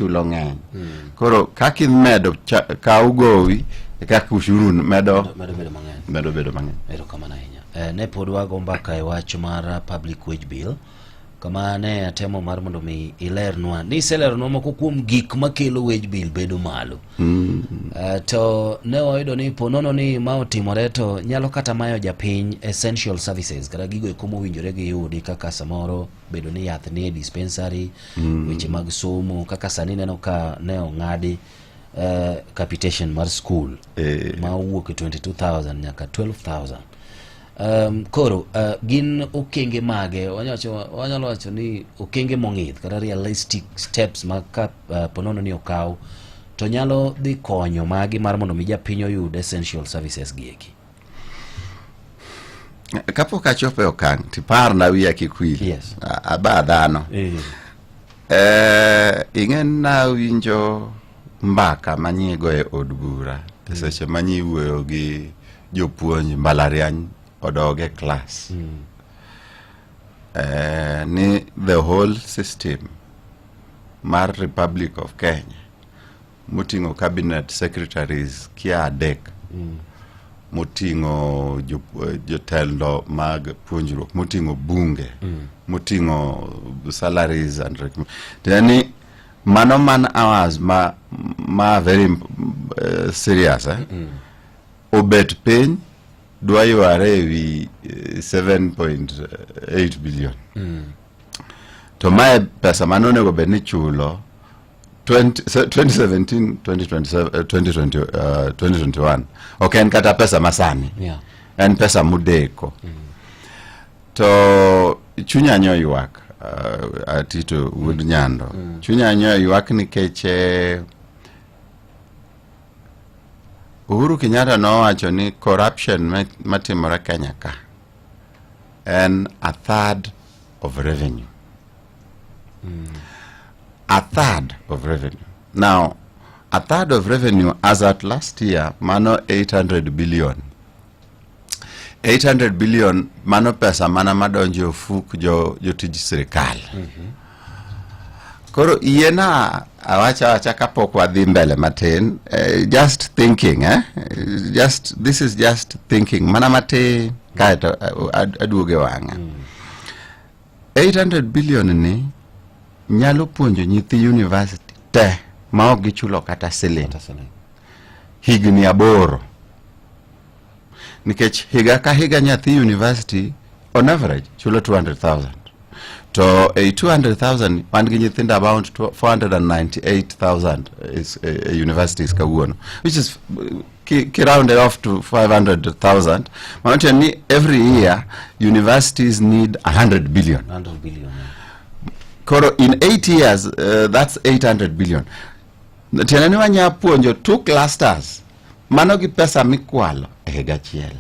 chulo ng'eny hmm. koro kaka imedo kaw gowi e kaka ushuru medo medo bedo mang'eny erokamano ahinya eh, ne pod wago mbaka e wach mar uh, public wage bill kama ne atemo mar mondo mi ilernwa ni iselernwa moko kuom gik makelo wage bill bedo malo mm. uh, to ne wayudo ni ponono ni ma otimore to nyalo kata mayo japiny essential services kata gigo eko mowinjore giyudi kaka samoro bedo ni yath nie dispensary mm. weche mag somo kaka sani neno ka ne ong'adi uh, capitation mar school eh. ma owuok e 22000 nyaka 12000 um, koro uh, gin okenge mage wanyalo wacho ni okenge mong'ith kata realistic steps ma ka uh, ponono ni okaw to nyalo dhi konyo magi mar mondo mi japiny oyud essential services gi eki kapok achopo e okang' tiparna wiya kik wil Yes. A- aba dhano Eh, Eh, ing'e nawinjo mbaka manyigo e od bura e seche manyi wuoyo gi jopuonj mbalariany odog e klas Eh, ni the whole system mar republic of kenya moting'o cabinet secretaries kia adek mm. moting'o eh, jotelo mag puonjruok moting'o bunge mm. moting'o salaries and yani mano man hours ma, ma very uh, serious eh? mm. obet piny dwa yware ewi 7.8 billion mm. to mae pesa mane onego bed ni chulo 2017 2021 uh, ok en kata pesa masani yeah. en pesa mudeko mm. to chunya nyo ywak uh, atito wuod nyando mm. chunya nyo ywak nikech eh, Uhuru Kenyatta nowacho ni corruption matimore Kenya ka en a third of revenue. Mm. A third of revenue. Now, a third of revenue as at last year, mano 800 billion. 800 billion mano pesa mana madonjo ofuk jo jotij sirikal. Mm -hmm. Koro iena awacha awacha kapok wadhi mbele matin uh, just thinking eh? just this is just thinking mana matin kaeto eh, aduoge wang'a mm. 800 billion ni nyalo puonjo nyithi university te ma ok gichulo kata siling higni aboro nikech higa ka higa nyathi university on average chulo 200,000 to ei 200,000 wan gi nyithindo about 498,000 is, uh, universities kawuono which is ki, ki rounded off to 500,000 maanake ni every year universities need 100 billion 100 billion koro in 8 years uh, that's 800 billion tiende ni wanya puonjo two clusters mano gi pesa mikwalo e higa achiel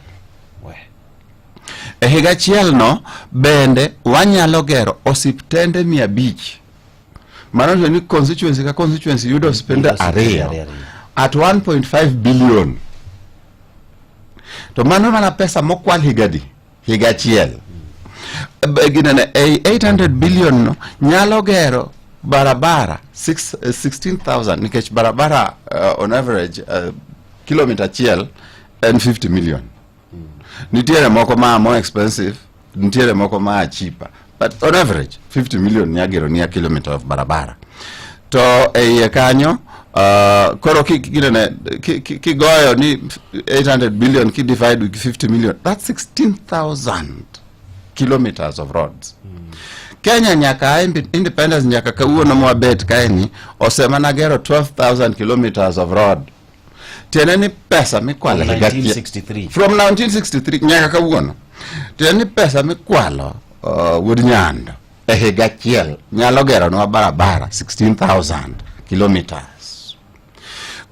e higa achiel no bende wanyalo gero osiptende mia abich maanake ni constituency ka constituency yudo spend ariyo at 1.5 billion to mano mana pesa mokwal higadi higa achiel ginene ei 800 billion no nyalo gero barabara 16000 eh, nikech barabara uh, on average uh, eh, kilomita achiel en 50 million Mm. Nitiere moko ma more expensive, nitiere moko ma cheaper. But on average, 50 million nyagero ni a kilometer of barabara. To eiye kanyo, uh, koro kinene kigoyo ni 800 billion ki divide with 50 million, that's 16,000 kilometers of roads. Mm. Kenya nyaka independence nyaka kawuono mwabet kaeni osemana gero 12,000 kilometers of road tiende ni pesa mikwalo higa from 1963 nyaka kawuono tiende ni pesa mikwalo uh, wuod nyando e higa achiel nyalo geronwa barabara 16000 kilometers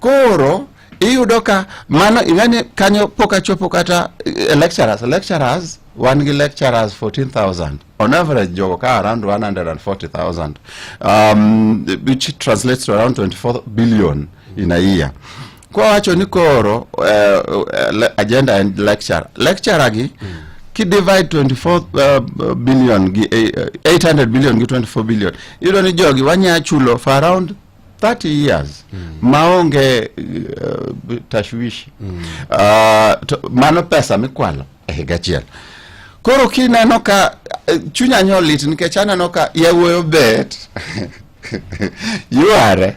koro iyudo ka mano ing'ani kanyo pok achopo kata eh, lecturers lecturers wan gi lecturers 14000 on average jogo ka around 140,000 um, which translates to around 24 billion in a year kwa wacho ni koro uh, uh, agenda and lecture lecture gi mm. ki divide 24 uh, billion gi uh, 800 billion gi 24 billion iyudo ni jogi wanya chulo for around 30 years mm. maonge uh, tashwishi mm. uh, to, mano pesa mikwalo e higa achiel. Koro kineno ka eh, chunya nyo lit nikech aneno ka yawuoyo bet yuare